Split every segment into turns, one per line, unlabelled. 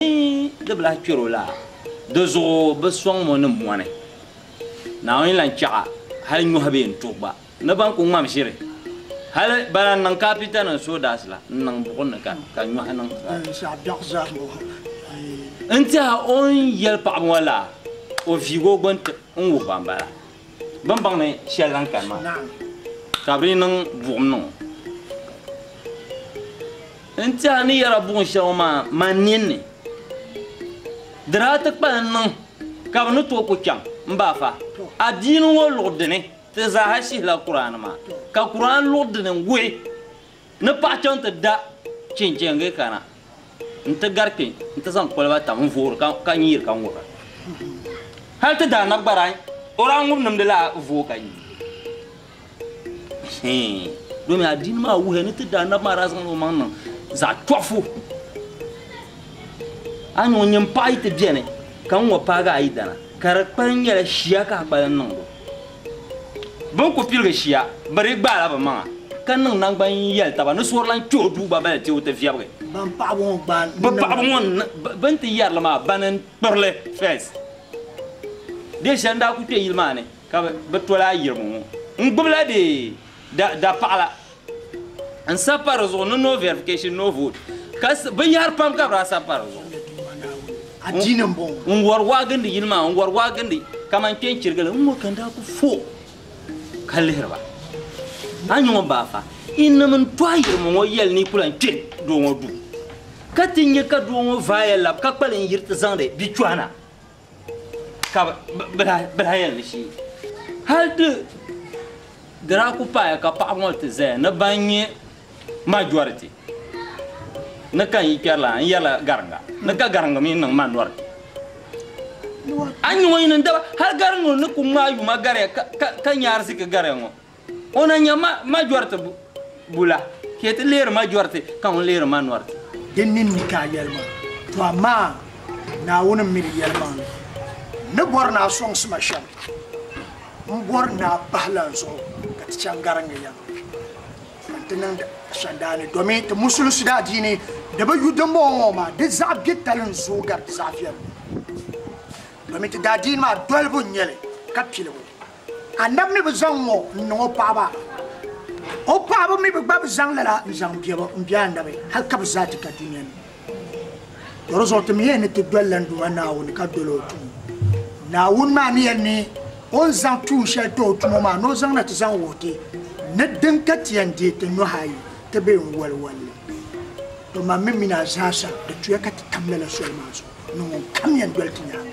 Ni di bi lahi kpɛr o la, di zuɣu bɛ sɔŋm o ni mɔni. Naawuni lan chɛɣ hal nyɔhi bee n-tuhi gba ni bɛn ku ŋmam ʒiri. Hal bana n-niŋ kaapita ni soodaas la n-niŋ buɣim ni ka nyɔhi niŋ n-tiɛha o ni yɛli paɣiba ŋɔ la, o viigi o gbini n-wuhi ba m-bala. Bɛ ni baŋ ni shɛli lan kani maa, ka bɛ ni niŋ buɣim niŋ o. N ti a ni yɛra buɣim shɛli ŋɔ maa man nin ni, di daa ti kpalim niŋ ka bɛ ni tooi ku chaŋ m-ba fa adiini ŋɔ luɣ dini ti zaaha shihila Kuraani maa, ka Kuraani luɣ dini wuhi Ni paɣa chaŋ ti da chinchɛŋgi kana nti gari kpe nti zaŋ koliba tam n-voori ka ka nyiiri ka ŋubira. Hal ti daa na gbara o daa ŋubi nimdi la voo ka nyi. Hii domi adiini maa wuhiya ni ti daa nabi maa daa zaŋla o maŋ niŋ zaɣ tɔɣifu. A ni o nyin paɣa yi ti beni ka ŋɔ paagi a yidana ka di kpali nyɛla shia ka a kpali niŋdi o. Bɛn ku piligi shia bɛ di gbaala bɛ maŋa, ka niŋ naŋgban yɛli taba ni suhuri lan kpɛh o duu gba bali ti o ti viɛbigi. Bɛn paɣibu ŋɔ
gbaai Bɛ paɣibu ŋɔ n niŋ
bɛ ni ti yɛri li maa bani n-kpir li first. Dee shɛli n-daa ku kpe yili maa ni ka bɛ tol a yirimo ŋɔ n-gbibila bɛ dapaɣila. n sabi pa di zuɣu ni no verification, no vote, ka binyɛhiri pam ka bɛ daa sabi pa di zuɣu.
N wari waa gindi yili
maa, n wari waa gindi kaman kpe n chirigi li, n ŋɔ ka n daa ku fo ka lihiri ba. A nyuŋ m baa fa, yi nami n tɔhi yirimo ŋɔ yɛli ni yi ku lan kpe doo ŋɔ duu, ka ti nya ka doo ŋɔ vaai ya lab ka kpali n yiri ti zaŋdi bia chɔhi na. ka bɛ lahi yɛn li shee. Hali di daa kuli paaya ka paɣiba ŋɔ ti zaya ni ban nyɛ majority ni ka n yi kpɛri lana n-yɛrila Gariŋga ni ka Gariŋga mi niŋ minority. A ni nya ŋɔ yi niŋ daba hali Gariŋga ni kuli ŋmaai yuma gariya ka nya ariziki gariya ŋɔ. O na nya ma majoriti bula, ka yi ti leeri majoriti, ka ŋun leeri manoriti. Di ninni ka a
yɛli maa, to amaa Naawuni mi di yɛli maa. N ni bɔri ni a sɔŋsi ma shɛm, m bɔri ni a bahi lan zuɣu ka ti chaŋ garinli ya ŋɔ nti niŋdi ashandaa ni domin ti musulinsi daadiini di bi yu dimbɔŋɔ ŋɔ maa di zaɣ biɛtali n-zooi gari di zaɣ viɛlli ŋɔ domin ti daadiini maa dolibu n-nyɛ li ka piligu. Annabi mi bi zaŋ ŋɔ n-niŋ o paɣaba, o paɣaba mi bi gba bi zaŋ lala n-zaŋ biɛbu m-be Annabi hal ka bi zaa ti ka dunia ni. Dɔ di zuɣu ti mi yɛn ni ti doli la n Duuma Naawuni ka doli o tuun. Naawuni maa ni yɛn ni o ni zaŋ tuun shɛli ti o tumo maa ni o zaŋna ti zaŋ wuhi ti ni din ka ti yɛn deei ti nuhi ayi ti be n wali wali li. Tɔ man mi mini a zaa sa di tuya ka ti tam lala soli maa zuɣu ni ŋun kam yɛn doli ti nyaaŋa.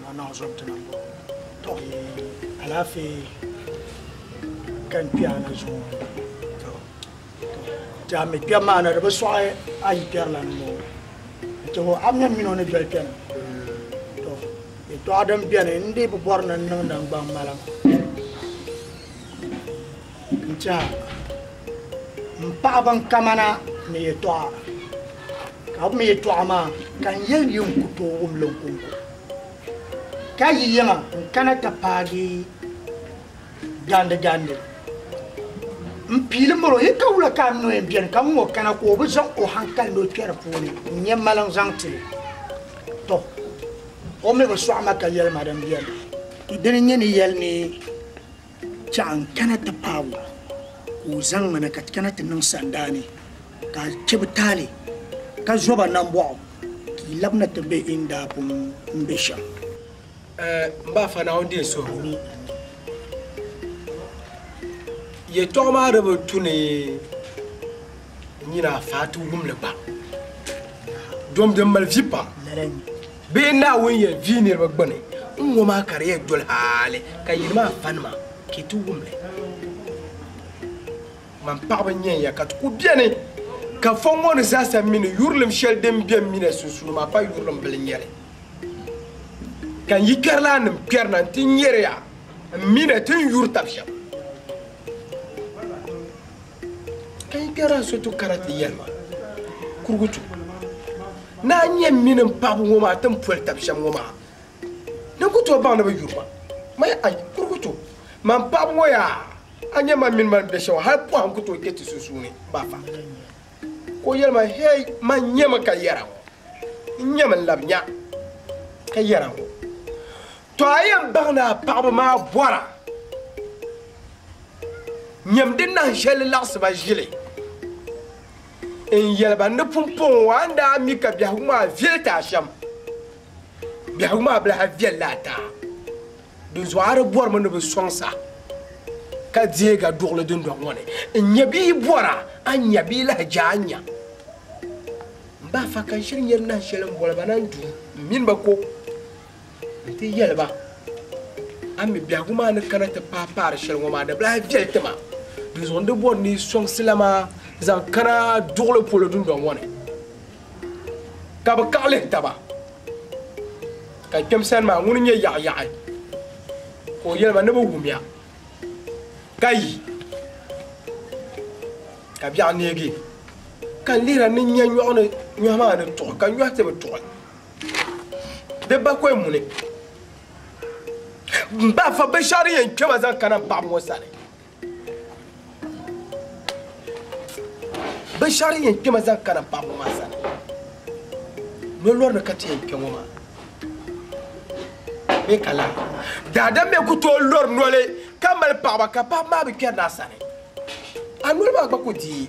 Maa naɣ zom ti nam bɔ tɔ. Alaafee kani kpɛɣu na zuŋɔ ni tɔ. Ti a mi kpɛbu maa na di bi sɔɣi a yi kpɛri la ni ŋɔ ni tɔ. A mi mini o ni doli kpɛna tɔ. Yɛtɔɣa din beni n dii bi bɔri ni n niŋ nangbaŋ malam. N chaŋ m paɣ ban kaman a ni yɛtɔɣa, ka bɛ mi yɛtɔɣa maa ka n yɛli yi n ku tooi wum li n kɔŋko. Ka yi yɛma n kana ti paagi gandigandi. M piili miri o, yi ka wula ka a ni o yɛn beni ka ŋun o kana ka o bi zaŋ o haŋkali ni o kpɛri puuni n-nyɛ mali n zaŋ ti li? Tɔ! O mi bi sɔɣi ma ka yɛli ma din beni. Dini n-nyɛ ni yɛli ni. Chɛɣu n kana ti paag o, ka o zaŋ ma na ka ti kana ti niŋ sandaa ni, ka a chɛ bɛ taali, ka zo ba nambɔɣu, ka yi labina ti be in daa pun ni be shɛm.
M ba Afa Naawuni deei suhigu ni yɛtɔɣa maa di bi tu ni n nyin a faati wum li gba. Dom din mali vi pam. Bee Naawuni yɛn vi niriba gbuni n-ŋɔ maa ka di yɛn doli hali ka yili maa pa nima? Ka yi ti wum li. Man paɣiba n-nyɛ ya ka ti ku beni, ka fo ŋɔ ni zaasa mini yurilim shɛli din be m mina sunsuuni maa pa yurilim bila n-nyɛ li. Ka n yikarilaannim kpɛrina nti nyari ya m mina ti n yuri tab shɛba. Ka yi kpɛri Asoto Karate yɛlima kurugutu ni a nya mini m paɣibu ŋɔ maa ti ni poli tab shɛm ŋɔ maa, din ku tooi baŋ ni bɛ yuri ma. Maya, Ai, kurugutu, man paɣibu ŋɔ yaa, a nya man mini ma ni be shɛm ŋɔ, hal pɔhim ku tooi kpe ti sunsuuni, m ba fa. Ka o yɛli ma, Hei, man nyami ka yɛra ŋɔ, n nyami n labi nya ka yɛra ŋɔ. Tɔ a yɛn baŋ ni a paɣiba maa bɔra nyam di nahin shɛli laɣisi ba ʒili n-yɛli ba ni pumpɔŋɔ ŋɔ a ni daa mi ka biɛhigu maa viɛli ti a shɛm, biɛhigu maa bi lahi viɛli li ataa. Dinzuɣu a di bɔrimi ni bɛ sɔŋ saha ka deeg a duɣili dundɔŋ ŋɔ ni n-nya bɛ yi bɔra a nya bɛ yi lahi je a nya. M ba Afa ka n shiri nyari nahin shɛli m-boli ba na n-duu m mini ba ko. Nti yɛli ba, A mi biɛhigu maa ni kana ti paai paari shɛli ŋɔ maa, di bi lahi viɛli ti ma, dinzuɣu n di bɔri ni yi sɔŋsi la maa zaŋ kana duɣili polo dundɔŋ ŋɔ ni. Ka bɛ kaɣi lihi taba, Ka kpɛm sani maa, ŋuni n-nyɛ yaɣiyaɣi? Ka o yɛli ba, Ni bɛ wum ya, ka yi, ka biɛɣu neegi, ka n lihira ni n nya nyɔhi maa ni tuɣi, ka nyɔhi ti bi tuɣi. Di ba kɔy muni m ba fa binshɛɣu yɛn kpɛ ma zaŋ kana m paɣa ŋɔ sani binshɛɣu yɛn kpɛ ma zaŋ kana m paɣa ŋɔ maa sani lɔlɔri ni ka ti yɛn kpɛ ŋɔ maa bɛ ka la daadam bɛ ku tooi lɔri noli ka mali paɣaba ka paɣaba maa bi kpɛri naa sani a noli maa gba ku dii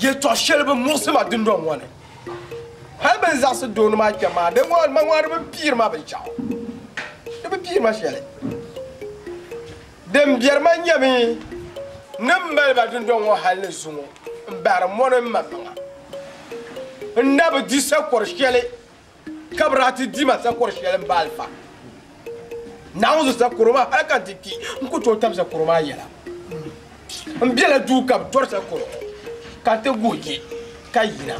Yɛtɔɣ shɛli bi muɣisi ma dundɔŋ ŋɔ ni. Hal bɛ ni zaɣisi doo ni maa kpɛm maa, di ŋɔ ma ŋɔ di bi piiri ma binshɛɣu. Di bi piiri ma shɛli. Din biɛri ma n-nyɛ mi ni m mali ba dundɔŋ ŋɔ hal ni zuŋɔ m-bahiri mɔni m-maŋmaŋa. N na bi di sakɔr shɛli Ka bɛ daa ti di ma zakɔr shɛli m-ba alifa Naawuni zuɣu zakɔro maa hal ka n ti kpi n ku tooi tam zakɔro maa yɛla. M bela duu ka bɛ tɔri zakɔro ka n ti guhi je ka yina.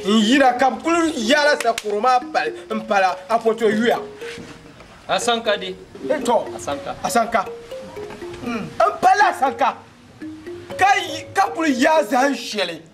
N yina ka bɛ kul yaala zakɔro maa pali m-pala Apoto yuya. Asanka
di? Tɔ! Asanka.
Asanka. M pala Asanka ka kul yaai zahim shɛli.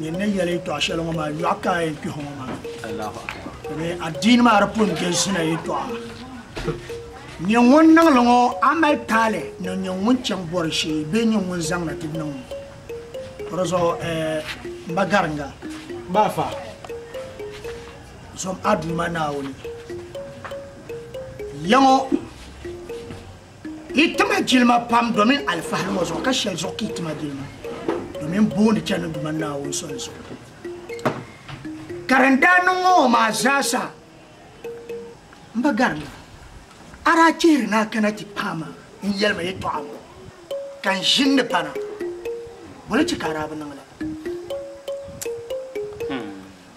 Nyɛ ni yɛli yɛtɔɣa shɛli ŋɔ maa yɔɣu ka a yɛn kpɛhi ŋɔ maa. Domi
adiini maa di
pun galsina yɛtɔɣa. Nyɛ ŋun niŋ li ŋɔ a mali taali ni nyɛ ŋun chaŋ bɔri shee bee nyɛ ŋun zaŋ na ti niŋ ŋɔ. O di zuɣu m ba Garinga. Baafa,
zom
a Duuma Naawuni yɛŋɔ. Yi tima jilima pam domin alifahari ŋɔ zuɣu ka shɛli zuɣu ka yi tima jilima domin booni chani Duuma Naawuni soli zuɣu. Ka din daa niŋ ŋɔ ŋɔ maa zaasa m ba garima, a daa chihiri ni a kana ti paai ma n yɛli ma yɛtɔɣa ŋɔ ka n ʒini ni pana, boli chɛ ka a daa bi niŋ la?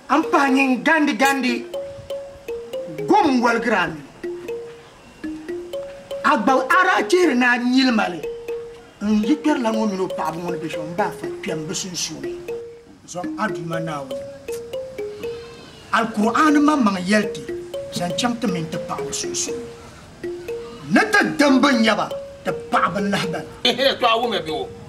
A ni pahi nyin gandi gandi gom n-waligira a nini? A gba a daa chihiri ni a nyili ma li n yi kpɛrila ŋɔ mini o paɣibu ŋɔ ni be shɛm baa fa kpɛm bɛ sunsuuni. Zaŋm a Duuma Naawuni Alkur'aani maŋmaŋ yɛli ti zaŋ chaŋ ti mini ti paɣibu sunsuuni ni ti dimba nya ba ti paɣibu lahibana. N ni tɔɣi wumya
be o.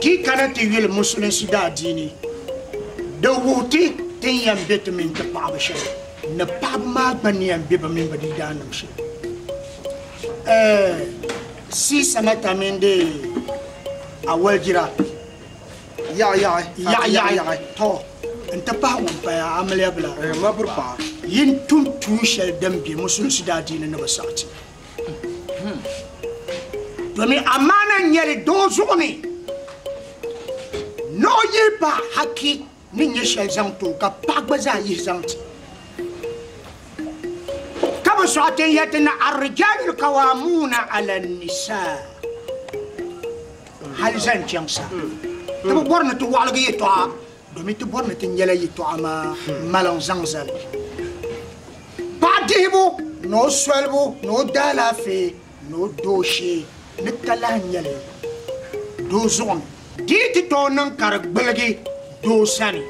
Ti yi kana ti yuli Musulinsi daadiini, di wuhi ti ti ni yɛn be ti mini ti paɣaba shɛli ni paɣaba maa gba ni yɛn be bɛ mini bɛ diidaanim shɛli. Ɛɛh! Sea Senator mini di awaligira yaɣiyaɣi tɔ n-ti pahi ŋun paya amiliya bila,
yin tum
tuun shɛli din be Musulinsi daadiini ni bɛ saɣiti. Domin amaana n-nyɛli doo zuɣu ni ni o yihi ba haki ni nyɛ shɛli zaŋ ti o ka paɣa gba zaa yihi zaŋ ti. Ka bɛ sɔɣi ti n-yɛli ti ni Ar-rijaalul kawaamuuna ala n-nisaa hali zaŋ chaŋ sa ti bi bɔri ni ti wɔɣiligi yɛtɔɣa Domin ti bɔri ni ti nyɛla yɛtɔɣa maa maliŋ zaŋ zali paɣa dihibu ni o solibu ni o daalaafee ni o dooshee ni ka lahi nyɛli doo zuɣu ni. Di yi ti tooi niŋ ka di gbuligi doo sani,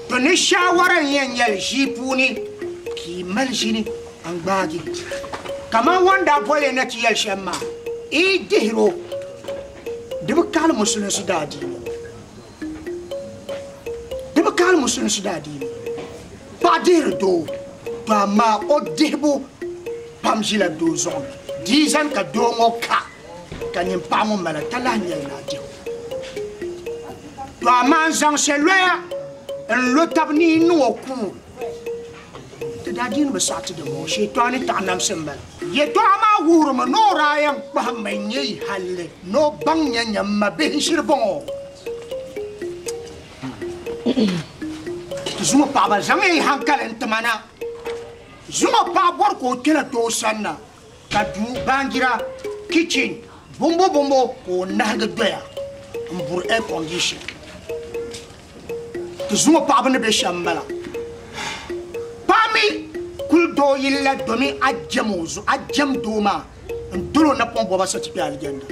to ni shaawara n-yɛn nyɛli ʒii puuni ka yi mali ʒini n-gbaagi. Kamani o ni daa boli ya ni ti yɛli shɛm maa, yi dihir o. Di bi kahili musulinsi daadiini. Di bi kahili musulinsi daadiini. Paɣa dihiri doo, to amaa o dihibu pam ʒila doo zuɣu ni. Di yi zani ka doo ŋɔ ka, ka nyin paɣa ŋɔ mali ka lahi nyɛli ni a dihi o. To amaa n zaŋ saloya n lo tab ni yi niŋ o kuŋ. Ti daa dii ni bi saɣiti di bɔŋɔ, Shɛitɔɣuni taɣinamsi m-bala. Yɛtɔɣa maa wuhirimi ni o daa yɛn kpahimmi n-nyɛ yi halli ni o baŋ nya nya m-mabihi ʒiri bɔŋɔ. Ti zuŋɔ paɣaba zaŋya yi hankali n-ti ma na. Zuŋɔ paɣa bɔri ka o kpɛna tooi sanna. ka duu baanjira, kitchen, bombo bombo ka o nahigi doya m-buri air condition. Di zuŋɔ paɣiba ni be shɛm m-bala. Paɣa mi kul doo yili la domi a jɛm o zuɣu, a jɛm doo maa n-dol o napɔŋ bɔba so ti kpe Alijanda.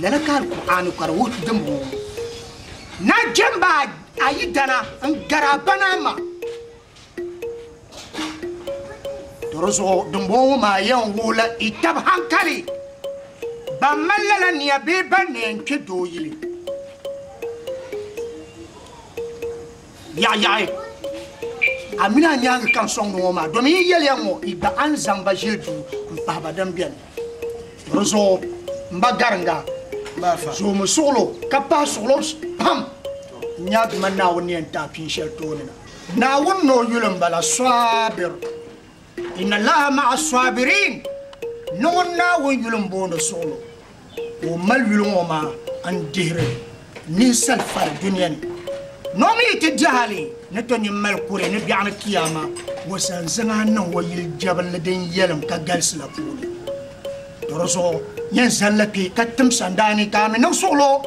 Lala ka Alkur'aani ka di wuhi dimbɔŋɔ ŋɔ, Nachimba a yidana n-gari a ba ni a ma. To di zuɣu dimbɔŋɔ ŋɔ maa yɛn wuhila i tab hankali ban mali lala nia bee ban ni yɛn kpe doo yili yaɣiyaɣi. A mini a nyaaŋa ka n sɔŋdi ŋɔ maa domin yi yɛliya ŋɔ yi gba a ni zaŋ ba ʒili duu m-pahi ba din beni. To di zuɣu m ba Gariŋga, zoomi suɣilo ka pahi suɣilo pam n-nyaagi ma Naawuni ni yɛn ti a pini shɛli tooni na. Naawuni ni o yuli n bala Swabir. Inna Allaha ma'a swabiriin, niŋun Naawuni yuli n booni suɣulo, ka o mali yuli ŋɔ maa n dihiri ninsali fari dunia ni, ni o mi yi ti di hali ni to nyin mali kuri ni biɛɣu ni Kiyaama. O zaŋ zaŋ a niŋ o yili jɛbinli din yɛlim ka galisi la puuni. Do di zuɣu nyin zani li kpi ka tim sandaa ni ka a mi niŋ suɣulo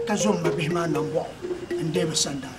ka zo m mabihi maa nambɔɣu n deei bɛ sandaa.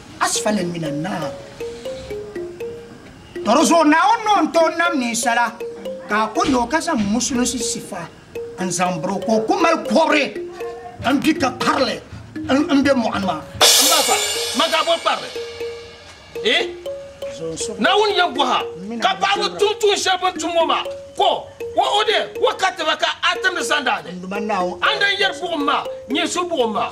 Asfali min annaar. Tɔri zuɣu Naawuni ni o ni tooi nam ninsala ka a ku nya o ka zaŋ musulinsi sifa n-zaŋ biri o ka o ku mali kɔbiri m-bi ka kparili m-be mɔɣini maa. M ba fa, ma
daa boli kparili ee. Naawuni yɛn bɔh a ka paɣiba tum tuun shɛli bɛ ni tum ŋɔ maa, ka o o deei wakati ba ka a timdi sandaani. Andani yɛri buɣim maa, nyinsi buɣim maa.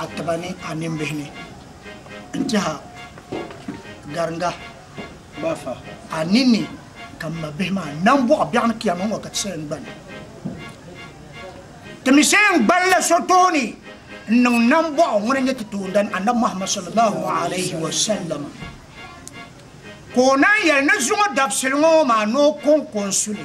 a tiba ni a nimbihi ni n-tɛh a gariŋga gba
fa. A ni ni
ka m mabihi maa nambɔɣu biɛɣu ni Kiyama ŋɔ ka ti saha n-gbani. Ti mi saha n-gbani la so tooni n-niŋ nambɔɣu ŋuna nyɛ ti toondana Annabi Muhammad sallallahu alayhi wa sallam ka o naanyi yɛli ni zuŋɔ dabisili ŋɔ maa ni o kɔŋko n-su li.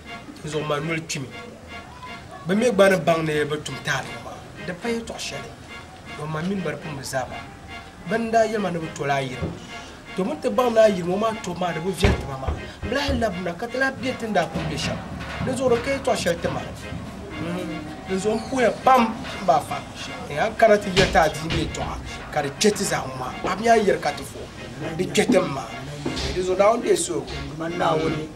zuɣu ma noli kpimi bɛ mi gba ni baŋ ni bɛ tum taali maa di pa yɛtɔɣ shɛli ŋɔ ma mini ba di pun bi zaa ba bɛ ni daa yɛli ma ni bɛ tol a ayirimo to bɛ ni ti baŋ ni ayirimo maa tobu maa di bi viɛli ti ba maa bɛ lahi labina ka ti lahi be ti ni daa kuli be shɛm dinzuɣu di ka yɛtɔɣ shɛli ti ma dinzuɣu m puhiya pam m ba fa ni a kana ti yɛli ti a dii mi yɛtɔɣa ka di kpe ti zaa ŋɔ maa a mi a yɛli ka ti vuhi di kpe ti m maa dinzuɣu Naawuni deei so.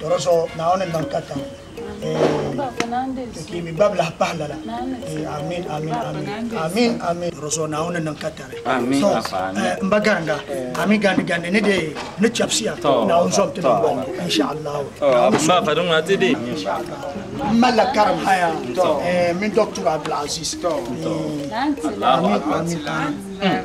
Tɔro so Naawuni n niŋ katiŋ ee
ti kpiimbi gbabilahi pahi
lala ee amin amin amin amin amin Tɔro so Naawuni n niŋ katari
so eh, n ba
garinda amin gandi gandi ni dee ni chɛbisiya Naawuni zom ti niŋ bɔŋ insha Allah Naawuni Ba pa dum
ati de. n malila
karim haya eh, min doctor Abdulaziz eh,
amin amin amin